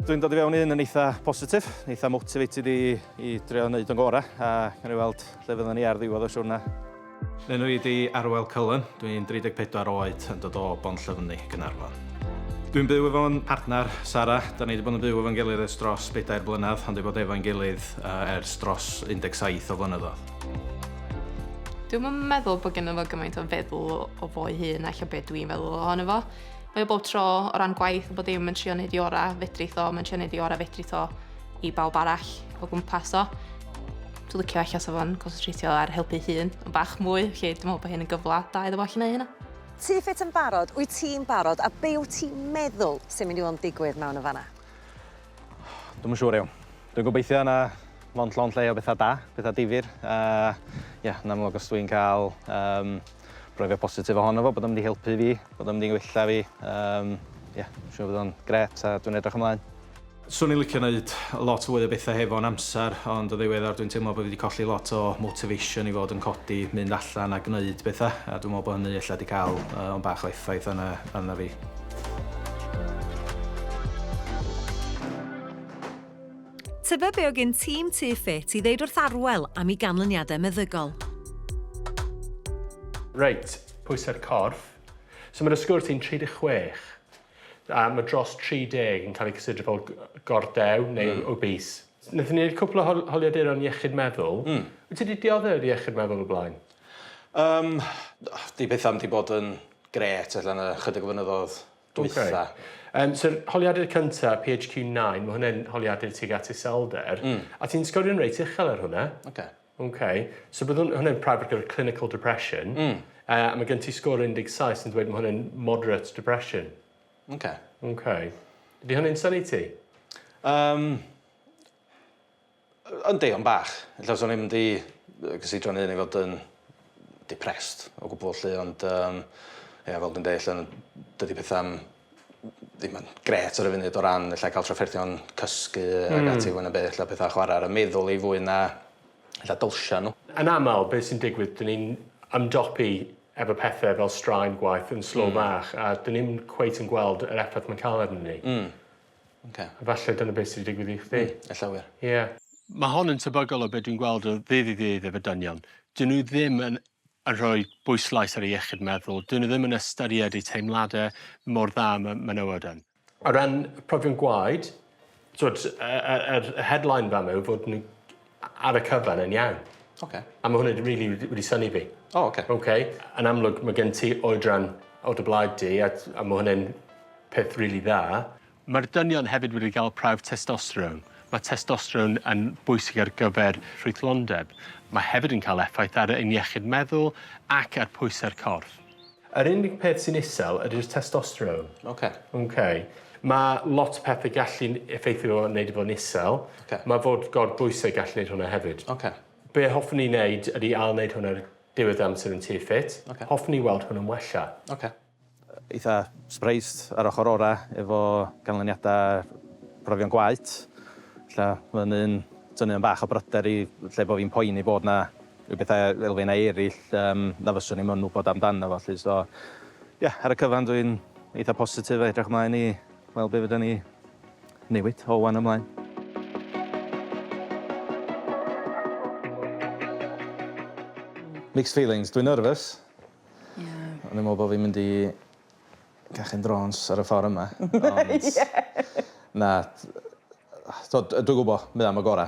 Dwi'n dod i fewn i hyn yn eitha positif, eitha motivated i, i drio wneud o'n gorau, a gan i weld lle fydden ni ar ddiwedd o siwrna. Enw i di Arwel Cullen, dwi'n 34 oed yn dod o Bont Llyfni, Gynarfon. Dwi'n byw efo'n partner, Sara. Da ni wedi bod yn byw efo'n gilydd ers dros bedair blynedd, ond wedi bod efo'n gilydd uh, ers dros 17 o flynyddoedd. Dwi'n meddwl bod gennym fo gymaint o feddwl o fo'i hun ac o beth dwi'n feddwl ohono fo. Mae o bob tro o ran gwaith bod dim yn trio wneud i orau fedri tho, mae'n trio wneud i orau fedri tho i bawb arall o gwmpas o. Dwi'n licio allan sef o'n concentrateio ar helpu hun yn bach mwy, lle dwi'n meddwl bod hyn yn gyfle da iddo fo allan ei hynna. Ti ffit yn barod, wyt ti'n barod a be wyt ti'n meddwl sy'n mynd i fod yn digwydd mewn yn fanna? Dwi'm yn siŵr iawn. Dwi'n gobeithio na mond llond lle o bethau da, pethau difyr a ie yn amlwg os dwi'n cael um, brofio positif ohono fo, bod o'n mynd i helpu fi, bod o'n mynd i wella fi. Um, yeah, siwr bod o'n gret a dwi'n edrych ymlaen. Swn i'n licio wneud lot fwy o bethau hefo'n amser, ond o ddiweddar dwi'n teimlo bod fi wedi colli lot o motivation i fod yn codi, mynd allan a gwneud bethau, a dwi'n meddwl bod hynny efallai wedi cael uh, o'n bach o effaith arna, arna fi. Tybed be o gyn tîm Tŷ Ffit i ddeud wrth Arwel am ei ganlyniadau meddygol? Reit, pwysau'r corff. So mae'r ysgwrs sy'n 36, a mae dros 30 yn cael eu cysidro fel gordew neu mm. obese. Nethon ni wneud cwpl o hol holiaduron iechyd meddwl. Mm. Wyt ti wedi dioddef o'r iechyd meddwl o blaen? Um, di bethau am di bod yn gret allan y chydig o fynyddoedd dwytha. Okay. Um, So'r holiadur cyntaf, PHQ9, mae hwnna'n holiadur tuag at iselder, mm. a ti'n sgorio'n reit uchel ar hwnna. Okay. Okay. So bydd hwnna'n prawf ar gyfer clinical depression, mm. uh, a mae gen ti sgor 17 sy'n dweud mae hwnna'n moderate depression. Okay. Okay. Ydy hwnna'n sani ti? Um, Yndi, ond bach. Ella fyswn i'm 'di cysidro'n hun i fod yn depressed o gwbwl 'lly ond yym ia fel dwi'n deud 'lly dydi petha'm ddim yn grêt ar y funud o ran ella cael trafferthion cysgu ag hmm. ati fwy na beth ella petha' chwarae ar y meddwl i fwy na ella dylsia nhw. Yn aml beth sy'n digwydd dyn ni'n ymdopi efo pethau fel straen gwaith yn slo hmm. bach a dyn ni'm cweit yn gweld yr effaith mae'n cael arnyn ni. Mm. Oce. Efalle dyna beth sy 'di digwydd i chdi. Hmm, ella wir. Ie. Ma' hon yn tebygol o be' dwi'n gweld o ddydd i ddydd efo dynion. 'Dyn nhw ddim yn yn rhoi bwyslais ar eu iechyd meddwl, 'dyn nhw ddim yn ystyried eu teimlade mor dda â ma' menywod yn. O ran profion gwaed, t'wod y y yr y headline fama yw fod nhw ar y cyfan yn iawn. Oce. A ma' hwnna 'di rili wedi wedi synnu fi. O oce. Oce? Yn amlwg ma' gen ti oedran o dy blaid di a t- a ma' hwnne'n peth rili dda. Ma'r dynion hefyd wedi ga'l prawf testosteron. Ma' testosteron yn bwysig ar gyfer ffrwythlondeb. Ma' hefyd yn ca'l effaith ar ein iechyd meddwl ac ar pwyse'r corff. Yr unig peth sy'n isel ydy'r testosterone. Oce. Oce. Ma' lot o pethe gallu n- effeithio fo a neud e fo'n isel. Oce. Ma' fod gor bwyse gallu neud hwnna hefyd. Oce. Be' hoffwn ni neud ydi ail neud hwn ar diwedd amser yn tŷ ffit. Oce. Hoffwn ni weld hwn yn wella. Oce. eitha surprised ar ochor ora efo canlyniada profion gwaet. Ella ma' hynny'n tynnu yn bach o bryder i lle bo' fi'n poeni bod 'na Y pethau elfennau eraill yym na fyswn i'm yn wybod amdano fo 'lly so ie ar y cyfan dwi'n eitha positif a edrych mlaen i weld be' fyddan ni newid o ŵan ymlaen. Mixed feelings, dwi'n nervous. Ie. O'n i'n me'wl bo' fi'n mynd i cachu'n drôns ar y ffor yma ond... Ie. ...na t- yy t'od dwi gwbo mae o am y gora.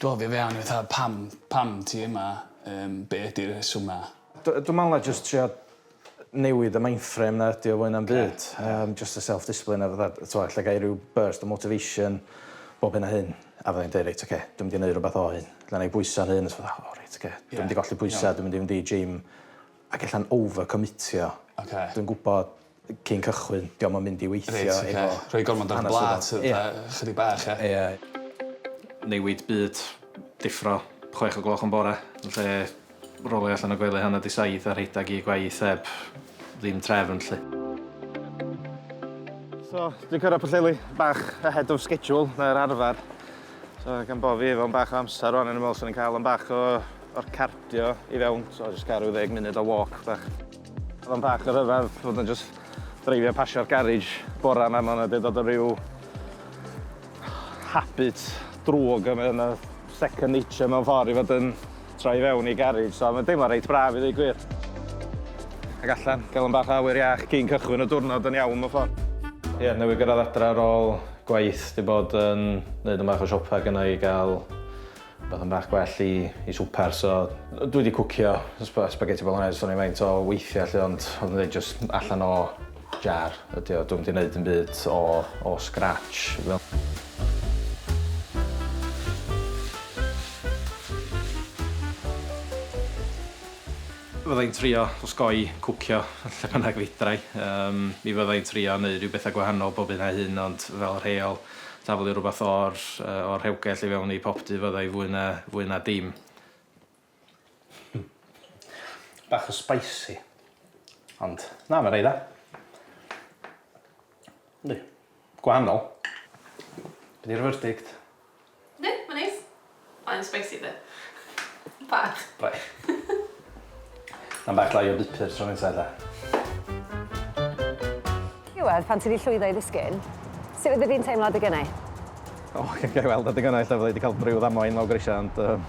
Do fi fewn i fatha pam pam ti yma yym be' ydi rhesyma? D- dwi me'wl na jyst trio newid y mindframe 'na ydi o fwy na'm byd yym jyst y self discipline a fatha t'mo' ella gai ryw burst o motivation bob hyn a hyn a fyddai'n deud reit oce dwi mynd i neu' rwbath o hyn ella nâi bwyso'n hun a t'mo' o reit oce dwi mynd i golli pwysa dwi mynd i fynd i gym ag ella'n over commitio. Oce. Dwi'n gwbod cyn cychwyn. Dio'm yn mynd i weithio efo hanes swyddog. Reit ocê. Rhoi gormod ar y blât yy fatha ychydig bach ia? Ia. Newid byd, deffro chwech o gloch yn bore yn lle rowlio allan o gwely hanner 'di saith a rhedag i gwaith heb ddim trefn 'lly. So, dwi'n cyrraedd Pwllheli bach ahead of schedule na'r arfer. So, gan bo' fi efo 'mbach o amser rŵan o'n i'n meddwl 'swn i'n cael 'mbach o o'r cardio i fewn, so jyst cael rhyw ddeg munud o walk bach. Oedd o'n bach o ryfedd fod yn just dreifio pasio'r garej bora yma, mae'n wedi dod o ryw habit drwg yma yn y second nature mewn ffordd i fod yn troi fewn i garej, so mae'n deimlo reit braf i ddweud gwir. Ac allan, gael yn bach o awyr iach cyn cychwyn y diwrnod yn iawn mewn ffordd. Ie, yeah, newydd gyrraedd adre ar ôl gwaith, di bod yn neud yn bach o siopa gynnau i gael Bydd yn bach gwell i i swper so dwi 'di cwcio sp- spaghetti bolognese so o'n i faint o weithia 'lly ond o'dd yn ddeud jyst allan o jar ydi o dwi'm 'di neud dim byd o o scratch fel Fydda i'n trio osgoi cwcio lle bynnag fedra i. Yym mi fydda i'n trio neud rhyw betha gwahanol bob hyn a hyn ond fel rheol taflu rhywbeth o'r yy o'r rhewgell i fewn i popty fydda i fwy na fwy na dim. Bach o spicy. Ond na ma rei dda. Yndi. Gwahanol. Be' 'di'r verdict? Yndi, mae'n neis. Mae'n spicy de. Bach. Bach. Mae'n bach llai o bupur tro nesa ella. Iwedd, pan ti 'di llwyddo i ddisgyn, sut fyddi di'n teimlo adeg ynni? O, ga'i weld adeg ynni ella fydda i 'di cael ryw ddamwain lawr grisia ond yym.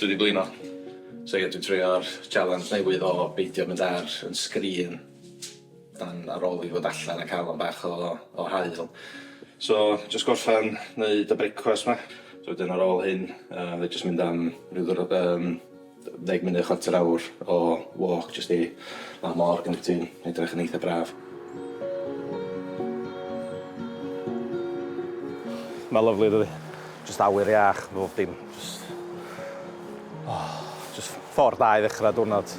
Dwi 'di blino. So ie dwi'n treio'r challenge newydd o beidio mynd ar 'yn sgrin dan ar ôl i fod allan a ca'l 'yn bach o o haul. So jyst gorffan neud y brecwast 'ma so wedyn ar ôl hyn yy jyst mynd am ryw ddwrnod yym Ddeg munud, chwarter awr o walk jyst i lawr môr gan bod hi'n edrych yn eitha braf. Mae'n lyfli dydi? Jyst awyr iach, bob dim. Jyst... O, jyst ffordd dda i ddechrau diwrnod.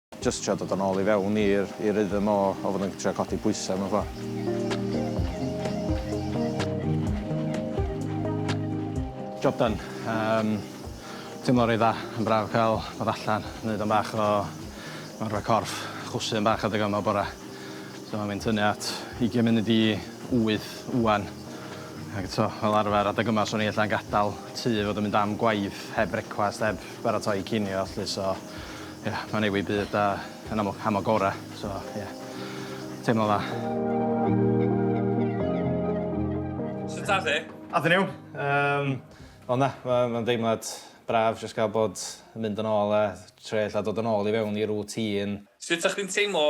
Jyst trio dod yn ôl i fewn i'r i rhythm o o fod yn trio codi pwysa mewn ffor. Job done. Yym teimlo reit dda. Yn braf ca'l bod allan neud am bach o marfa corff. Chwysu am bach adeg yma bora. So ma fi'n tynnu at ugian munud i wyth ŵan. Ag eto fel arfer adeg yma swn i ella'n gadal tŷ i fod yn mynd am gwaith heb frecwast heb baratoi cinio llu so Ie, mae'n newid byd da yn amlwg am y gorau, so ie, teimlo'n dda. Sut ath e? Ath e'n iawn. Yym, ond na, mae'n deimlad braf jyst gael bod yn mynd yn ôl a trio ella dod yn ôl i fewn i routine. Sut o'ch chdi'n teimlo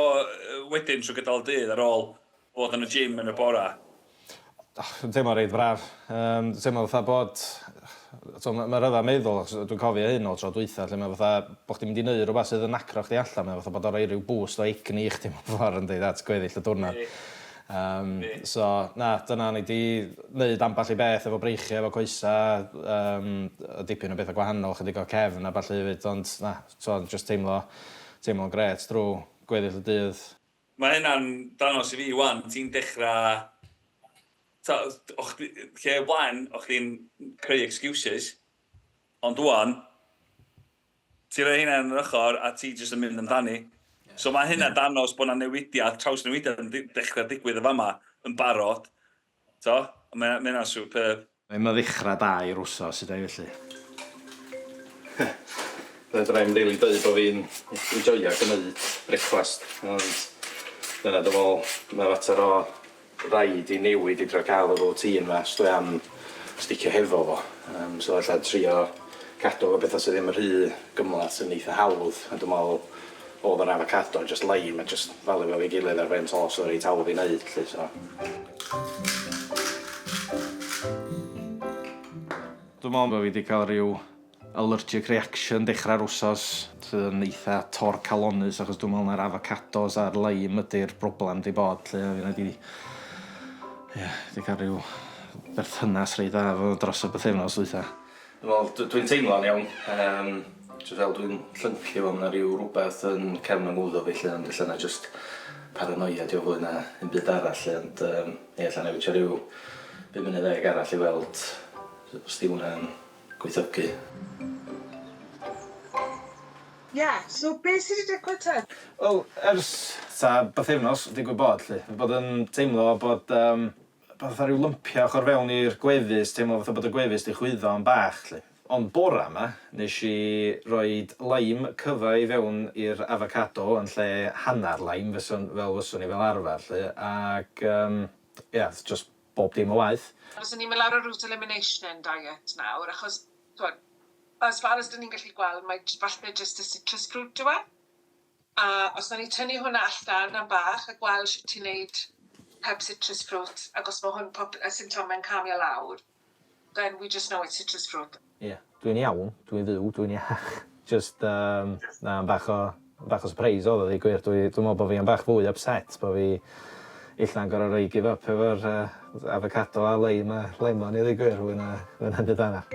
wedyn trwy gydol y dydd ar ôl Bod yn y gym yn y bore? Yn teimlo reit braf. Yym dwi'n teimlo fatha bod t'mo' ma' ma' rhyfedd meddwl achos dwi'n cofio hyn o'r tro dwytha lle ma' fatha bo' chdi'n mynd i neu' rwbath sydd yn nacro chdi allan mae o fatha bod o roi ryw boost o egni i chdi mewn ffor yndi at gweddill y dwrnod. Yym so na dyna o'n i 'di neud ambell i beth efo breichie efo coesa yym yy dipyn o betha gwahanol chydig o cefn a ballu efyd ond na t'mo' jyst teimlo teimlo'n grêt drw gweddill y dydd. Mae hynna'n dangos i fi 'wan, ti'n dechrau... Tibod, o' chdi... lle o blaen, o' chdi'n creu excuses, ond 'wan, ti'n rhoi hynna yn yr ochr a ti jyst yn mynd amdani. So mae hynna'n dangos bod 'na newidiad, trawsnewidiad yn dechrau digwydd yn fama, yn barod. Do, mae hynna'n superb. Mae'n ddechrau da i'r wsos, hyd ei felly. Fedra i'm rili deud bod fi'n enjoio gwneud brecwast, ond dyna dwi'n meddwl, mae fater o raid i newid i drio cael y routine 'ma os dwi am sticio hefo fo. Yym so ella trio cadw efo petha sy' ddim rhy gymhleth sy'n eitha hawdd, a dwi'n meddwl Oedd yr avocado yn jyst lime a jyst falu fo efo'i gilydd ar ben tost oedd o reit hawdd i neud 'lly so. Dwi'n meddwl bo' fi 'di ca'l ryw allergic reaction dechrau'r wsos sydd yn eitha torcalonnus achos dwi'n meddwl mai'r avocados a'r lime ydi'r broblem 'di bod 'lly a finna 'di ia 'di ca'l ryw berthynas reit dda efo fo dros y bythefnos ddwytha. Wel dw- dwi'n teimlo'n iawn yym jys fel dwi'n llyncu fo ma' 'na ryw rwbeth yn cefn 'y ngwddw fi 'lly ond ella na'i jyst paranoia 'di o fwy na ddim byd arall 'lly ond yym ie ella na'i wisio ryw bum munud ddeg arall i weld s- os 'di hwnna'n gweithiogi. Ie so be' sy' 'di digwydd te? Wel ers ta bythefnos digwydd bod 'lly fi bod yn teimlo bod yym fatha rhyw lympia ochor fewn i'r gwefus, teimlo fatha bod y gwefus 'di chwyddo yn bach 'lly. Ond bora 'ma, nesh i roid lime cyfa i fewn i'r avocado yn lle hannar lime fysa'n, fel fyswn i fel arfar 'lly, ac yym ia, o'dd jyst bob dim yn waeth. Fyswn ni'n mynd lawr y route elimination diet nawr, achos t'mod, as far as 'dyn ni'n gallu gweld mae j- falle jyst y citrus fruit yw e. A os nawn ni tynnu hwnna allan am bach a gweld shwt ti'n neud heb citrus ffrwt ac os ma' hwn pob- y symptome'n calmio lawr then we just know it's citrus fruit. Ie. Dwi'n iawn, dwi'n fyw, dwi'n iach. Jyst yym na am bach o bach o sypreis odd o ddeu gwir dwi dwi me'wl bo' fi am bach fwy o ypset bo' fi ella'n gor'o' roi give up efo'r yy afocado a leim a lemon i ddeu gwir fwy na fwy na'm byd arall.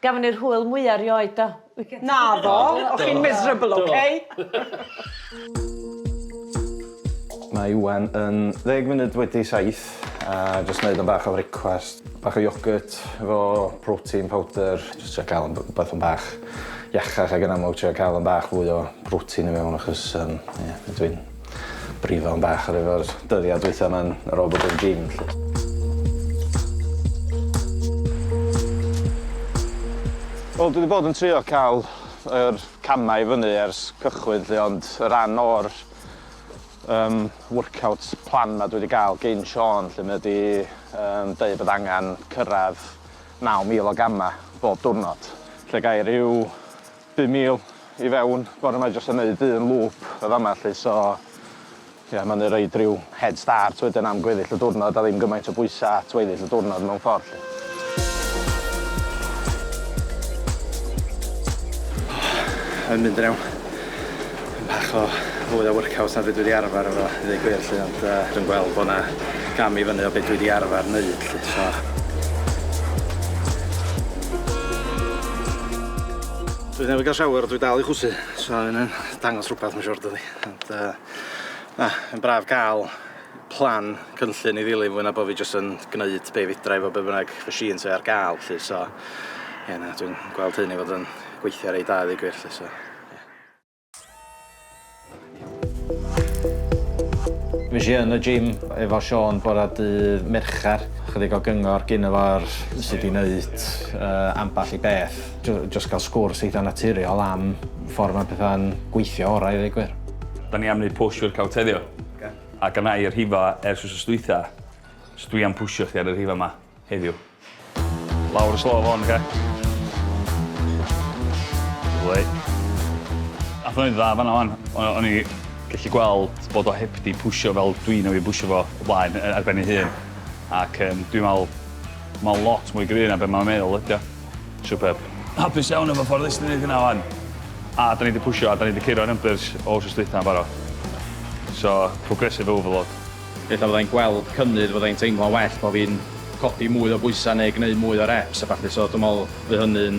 Gafon ni'r hwyl mwya rioed do? Naddo, o'ch chi'n miserable ok? Mae Iwan yn ddeg munud wedi saith a jyst neud am bach o frecwast. Bach o iogwrt efo protein powder. Jyst trio ca'l wbath yn bach iachach ag yn amlwg trio ca'l yn bach fwy o protein i mewn achos yym ie dwi'n Brifo am bach ar efo'r dyddiad dwytha ma'n ar ôl bod yn gym 'lly. Wel dwi 'di bod yn trio ca'l yr camau i fyny ers cychwyn 'lly ond y ran o'r yym workout plan 'ma dwi 'di ga'l gin Siôn 'lly ma' 'di yym deu' bod angan cyrradd naw mil o gama' bob diwrnod. Lle gai ryw Pum mil i fewn bore ma jyst yn neud un lŵp yn fama lly so ie ma'n i roid ryw head start wedyn am gweddill y diwrnod a ddim gymaint o bwysa at weddill y diwrnod mewn ffordd lly. Yn mynd yn iawn. Bach o fwy o workout na be' dwi 'di arfar efo i ddeu gwir 'lly ond yy dwi'n gweld bo' 'na gam i fyny o be' dwi 'di arfar neud 'lly so. Dwi newydd ga'l shower a dwi dal i chwysu so ma' wnna'n dangos rwbath ma' siŵr dydi ond yy na yn braf ca'l plan cynllun i ddilyn fwy na bo' fi jyst yn gneud be' fedra i efo be' bynnag machine sy ar ga'l 'lly so ie na dwi'n gweld hyn i fod yn gweithio reit dda i ddeu gwir 'lly so ie. Fues i yn y gym efo Siôn bora dydd Mercher. Chydig o gyngor gyn y fawr sut i wneud uh, ambell i beth. Just cael sgwrs eitha naturiol am ffordd mae pethau'n gweithio orau i ddweud gwir. Da ni am wneud push i'r cael teddio. Okay. A gan i y rhifa ers wrth ystwytha, so dwi am pwysio chdi ar y rhifa yma heddiw. Lawr y slo fo hwn, oce? Lyfli. Nath o'n neud dda fanna wan. O- o'n i gellu gweld bod o heb 'di pwsio fel dwi newydd bwsio fo o blaen yy ar ben ei hun ac yym dwi'n me'wl ma' o'n lot mwy gry' na be' ma'n meddwl ydi o. Superb. Hapus iawn efo ffordd nes ti neud hynna wan. A 'dan ni 'di pwsio a 'dan ni 'di curo numbers o wsos dwytha yn barod. So progressive overload. Ella fyddai'n gweld cynnydd, fyddai'n teimlo'n well bo fi'n codi mwy o bwysau neu gneud mwy o reps a ballu so dwi'n meddwl fydd hynny'n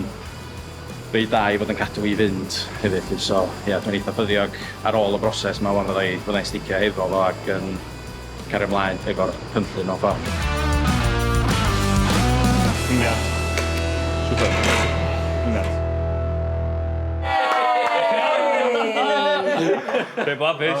reit dda i fod yn cadw fi i fynd hefyd 'lly so ia dwi'n eitha ffyddiog ar ôl y broses 'ma ŵan fyddai fyddai'n sticio hefo fo ac yn cario mlaen efo'r cynllun mewn ffordd. Cynniad. Super. Cynniad. Be' blabbis?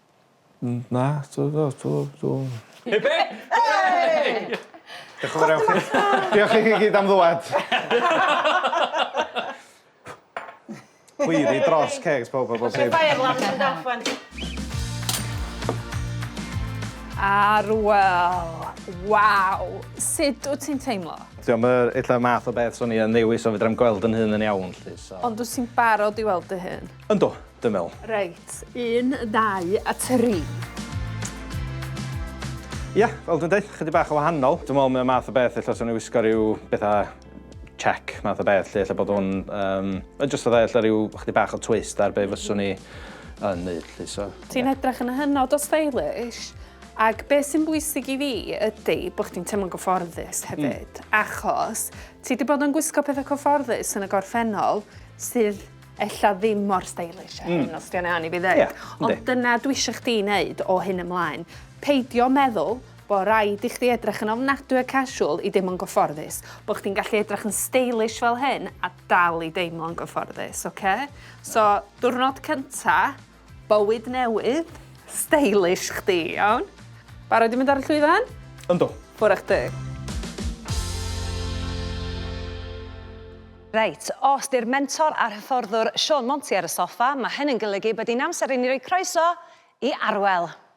Mm na t'o' fel t'o' t'o'... Hip hip! Hooray! Dioch y' fawr iawn chi. Diolch i chi gyd am ddŵad. Poeri dros ceg pawb a bob dim. Arwel! Waw! Sud wt ti'n teimlo? T'mo' ma' ella'r math o beth swn i yn ddewis on' fedrai'm gweld 'yn hun yn iawn 'lly so... Ond wt ti'n barod i weld dy hun? Yndw, dwi'n meddwl. Reit, un, ddau a tri. Ia, fel dwi'n deud, chydig bach o wahanol. Dwi'n meddwl mae o'n math o beth ella swn i wisgo rhyw bethau check math o beth lle lle bod o'n... Um, just fatha ella rhyw chydig bach o twist ar be fyswn i yn neud lly. So, Ti'n yeah. edrych yn hynod o stylish. Ac beth sy'n bwysig i fi ydy bod chdi'n teimlo'n gyfforddus hmm. hefyd, mm. achos ti wedi bod yn gwisgo pethau cyfforddus yn y gorffennol sydd ella ddim mor stylish a hyn mm. os di o'n iawn i fi ddeud. Yeah, Ond dyna dwi eisiau chdi wneud o hyn ymlaen. Peidio meddwl bod rhaid i chdi edrych yn ofnadwy a casual i deimlo'n gyfforddus. Bod chdi'n gallu edrych yn stylish fel hyn a dal i deimlo'n gyfforddus, oce? Okay? So, diwrnod cynta, Bywyd newydd, stylish chdi, iawn? Barod i mynd ar y llwyfan? Yndw. Ffwr a chdi. Reit, os 'di'r mentor a'r hyfforddwr Siôn Monti ar y soffa, ma' hyn yn golygu bod hi'n amser i ni roi croeso i Arwel!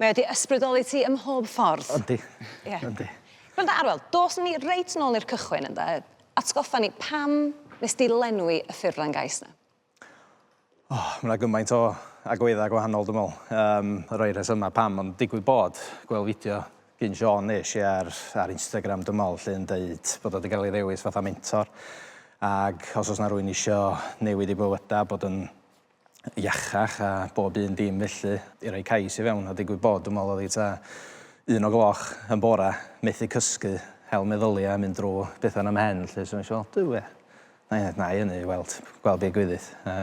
Mae o 'di ysbrydoli ti ym mhob ffordd. Yndi. Ie. Yndi. Granda Arwel, dos ni reit nôl i'r cychwyn ynde? Atgoffa ni, pam nes di lenwi y ffurflen gais 'na? O, ma' 'na gymaint o agwedda' gwahanol dwi me'wl. Yym, rhai rhesyma' pam ond digwydd bod, gwel' fideo gin Siôn nesh i ar ar Instagram dwi me'wl 'lly yn deud bod o 'di ga'l 'i ddewis fatha mentor ag os o's 'na rywun isio newid 'u bywyda bod yn iachach a bob un dim felly. I roi cais i fewn a digwydd bod dwi'n meddwl oedd hi tua un o gloch yn bore, methu cysgu, hel meddyliau a mynd drwy bethau yn y mhen 'lly so nes i weld Duw ie. Na i na i hynny i weld gweld be gwydith a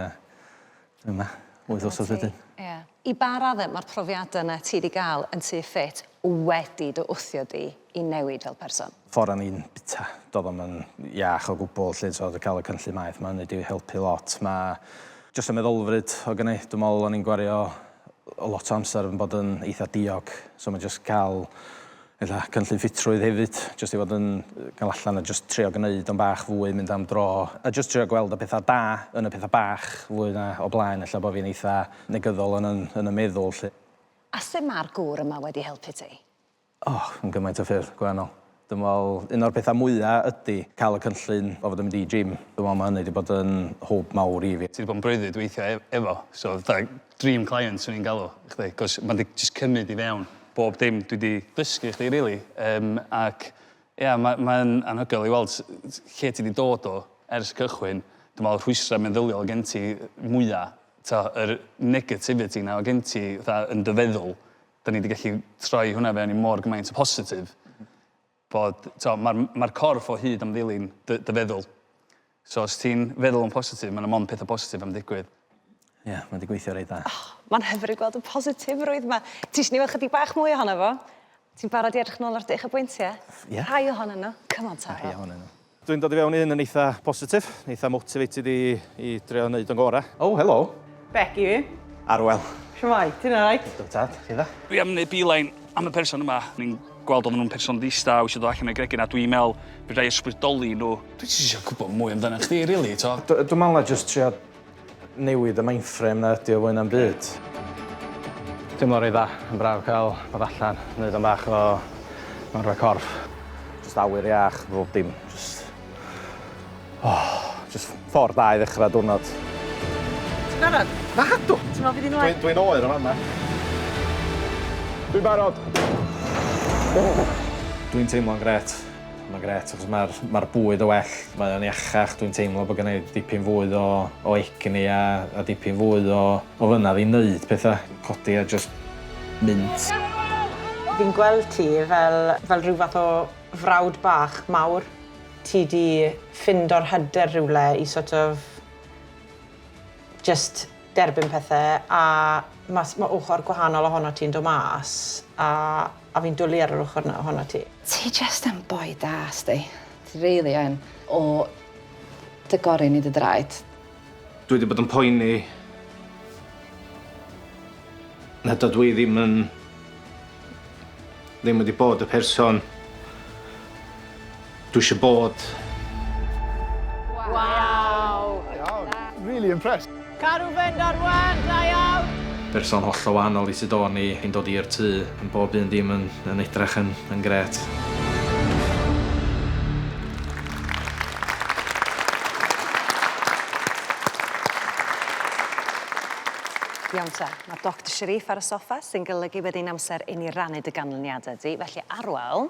dwi yma wyth wsos wedyn. Ie. I ba radde ma'r profiada 'na ti 'di ga'l yn tŷ ffit wedi dy wthio di i newid fel person? ffordd o'n i'n bita. Doedd o'm yn iach o gwbl 'lly t'od ca'l y cynllun maeth 'ma hynny 'di helpu lot. Ma' jyst y meddylfryd oedd gynna i. Dwi me'wl o'n i'n gwario lot o amser yn bod yn eitha diog so ma' jyst ca'l ella cynllun ffitrwydd hefyd jyst i fod yn ga'l allan a jyst trio gneud o'n bach fwy, mynd am dro a jyst trio gweld y petha da yn y petha bach fwy na o blaen ella bo' fi'n eitha negyddol yn yn yn y meddwl 'lly. A sut ma'r gŵr yma wedi helpu ti? O, yn gymaint o ffyrdd gwahanol. Dwi'n meddwl, un o'r pethau mwya ydy cael y cynllun o fod yn mynd i gym. Dwi'n meddwl mae hynny 'di bod yn hwb mawr i fi. Ti 'di bod yn breuddwyd weithiau e- efo, so fatha dream client 'swn i'n galw chdi, 'c'os ma' 'di jyst cymyd i fewn bob dim dwi 'di dysgu i chdi rili, yym ac ia ma' mae yn anhygoel i weld s- s- lle ti 'di dod o ers y cychwyn. Dwi'n meddwl rhwystrau meddyliol oedd gen ti mwya, t'o' yr negativity 'na oedd gen ti fatha yn dy feddwl, 'da ni 'di gallu troi hwnna fewn i mor gymaint o positif bod, t'o', ma'r ma'r corff o hyd am ddilyn dy dy feddwl. So os ti'n feddwl yn positif ma' 'na mond petha positif am ddigwydd. Ie, ma' 'di gweithio reit dda. O, ma'n hyfryd gweld y positifrwydd 'ma. Ti isio ni weld chydig bach mwy ohono fo? Ti'n barod i edrych nôl ar dy uchafbwyntie? Ie. Rhai ohonyn nhw. Come on Tara. Rhai ohonyn nhw. Dwi'n dod i fewn i hyn yn eitha positif, eitha motivated i, i drio wneud o'n gorau. Oh, helo. Becky fi. Arwel. Shwmai, ti'n alright? Dwi'n tad, chi dda? Dwi am wneud beeline am y person yma. Ni'n gweld oedden nhw'n person ddista a eisiau dod allan o'i gregyn a dwi'n meddwl fedra i ysbrydoli nhw. Dwi jyst eisiau gwybod mwy amdanach chdi, rili, to. Dwi'n meddwl na jyst trio Newid y mainframe 'na ydi o fwy na'm byd. Teimlo reit dda, yn braf cael bod allan, neud am bach o marfa corff. Jyst awyr iach, bob dim jyst oh, jyst ffordd da i ddechrau diwrnod. Ti'n barod? Nadw! Ti'n meddwl bydd hi'n oer? Dwi'n oer yn fan'na. Dwi'n barod! Dwi'n teimlo'n grêt. Mae'n gret achos mae'r ma bwyd o well, mae o'n iachach, dwi'n teimlo bod gennau dipyn fwy o, o egni a, a dipyn fwy o, o fynaf i wneud pethau, codi a just mynd. Fi'n gweld ti fel, fel rhyw fath o frawd bach mawr. Ti di ffind o'r hyder rhywle i sort of just derbyn pethau a mae ma ochr gwahanol ohono ti'n dod mas a A fi'n dwli ar yr ochr 'na ohonot ti. Ti jest yn boi da, sti. Ti really yn. O dy gorin i dy draed. Dwi 'di bod yn poeni nad ydw i ddim yn... ddim wedi bod y person... Dwi isio bod. Waw! Iawn. Really impressed. Caru fynd ar wên, da iawn! Person hollol wahanol i sut o'n i, yn dod i'r tŷ, yn bob un dim yn yn edrach yn yn grêt. Iawn te, ma' Doctor Sharif ar y soffa, sy'n golygu bod hi'n amser i ni rannu dy ganlyniade di, felly Arwel,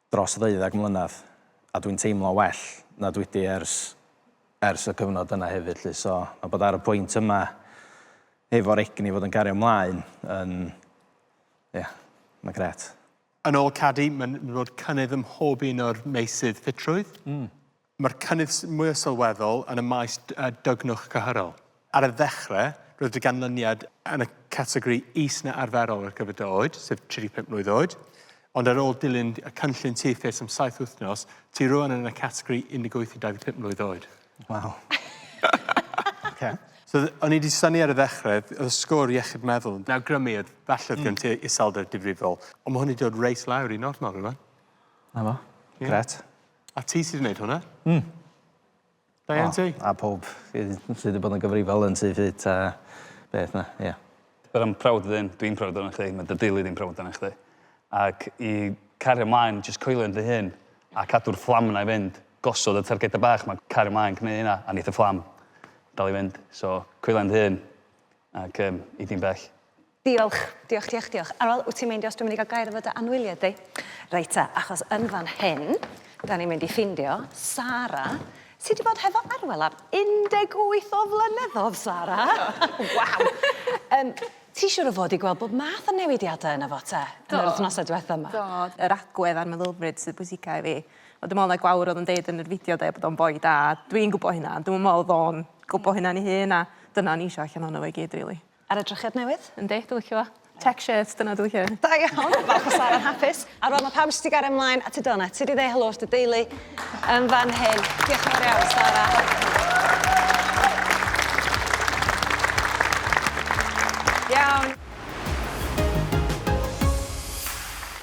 dros ddeuddeg mlynedd a dwi'n teimlo'n well na dwi 'di ers ers y cyfnod yna hefyd 'lly so ma' bod ar y pwynt yma efo'r egni fod yn gario mlaen yn ie ma'n grêt. Yn ôl Cadi mae'n mynd i fod cynnydd ym mhob un o'r meysydd ffitrwydd. Mae'r cynnydd mwyaf sylweddol yn y maes dygnwch cyhyrol. Ar y ddechrau, roedd y ganlyniad yn y categori is na arferol ar gyfer dy oed, sef 35 mlwydd oed, ond ar ôl dilyn y cynllun Tŷ Ffit am saith wythnos, ti rŵan yn y categori 18 i 25 mlwydd oed. Waw. Ocê. So, o'n i wedi synnu ar y ddechrau, oedd y sgôr iechyd meddwl yn awgrymu oedd falle oedd gen ti iselder difrifol, ond mae hwn wedi dod reit lawr i normal rŵan. 'Na fo. Grêt. A ti sy 'di neud hwnna. Hmm. Da iawn ti. A powb sy sy 'di bod yn gyfrifol yn Tŷ Ffyt a beth 'na, ie. But I'm proud of him. Dwi'n proud arnoch chdi. Ma' dy deulu di'n proud arnoch chdi. Ac i cario mlaen jyst coelio yn dy hun a cadw'r fflam 'na i fynd. Gosod y targeda bach 'ma. Cario mlaen gwneu hynna a neith y fflam dal i fynd. So coelio yn dy hun ac yym i di'n bell. Diolch. Diolch, diolch, diolch. Arwel, wyt ti'n meindio os dwi'n mynd i gael gair efo dy anwyliad di? Reit ta, achos yn fan hyn, da ni'n mynd i ffindio Sara, sydd wedi bod hefo Arwel am 18 o flynyddoedd, Sara! Waw! um, ti siwr o fod i gweld bod math o newidiadau yna fo te, yn yr wythnosau diwethaf yma? Do, yr agwedd a'r meddylfryd sydd bwysicau i fi. Ond dwi'n meddwl na Gwawr oedd yn deud yn yr fideo de, bod o'n boi da. Dwi'n gwybod hynna, ond dwi'n meddwl oedd o'n gwybod hynna'n ei hun, a dyna o'n i eisiau allan ohono fo i gyd, rili. Ar y drychiad newydd. Yndi, dwi licio fo. Check shirt, dyna dwi licio. Da iawn! Falch o Sara'n hapus. A rŵan ma' pawb jyst 'di gario mlaen at y doughnut. Ti 'di ddeu helo wrth dy deulu yn fan hyn. Diolch yn fawr iawn, Sara. Iawn.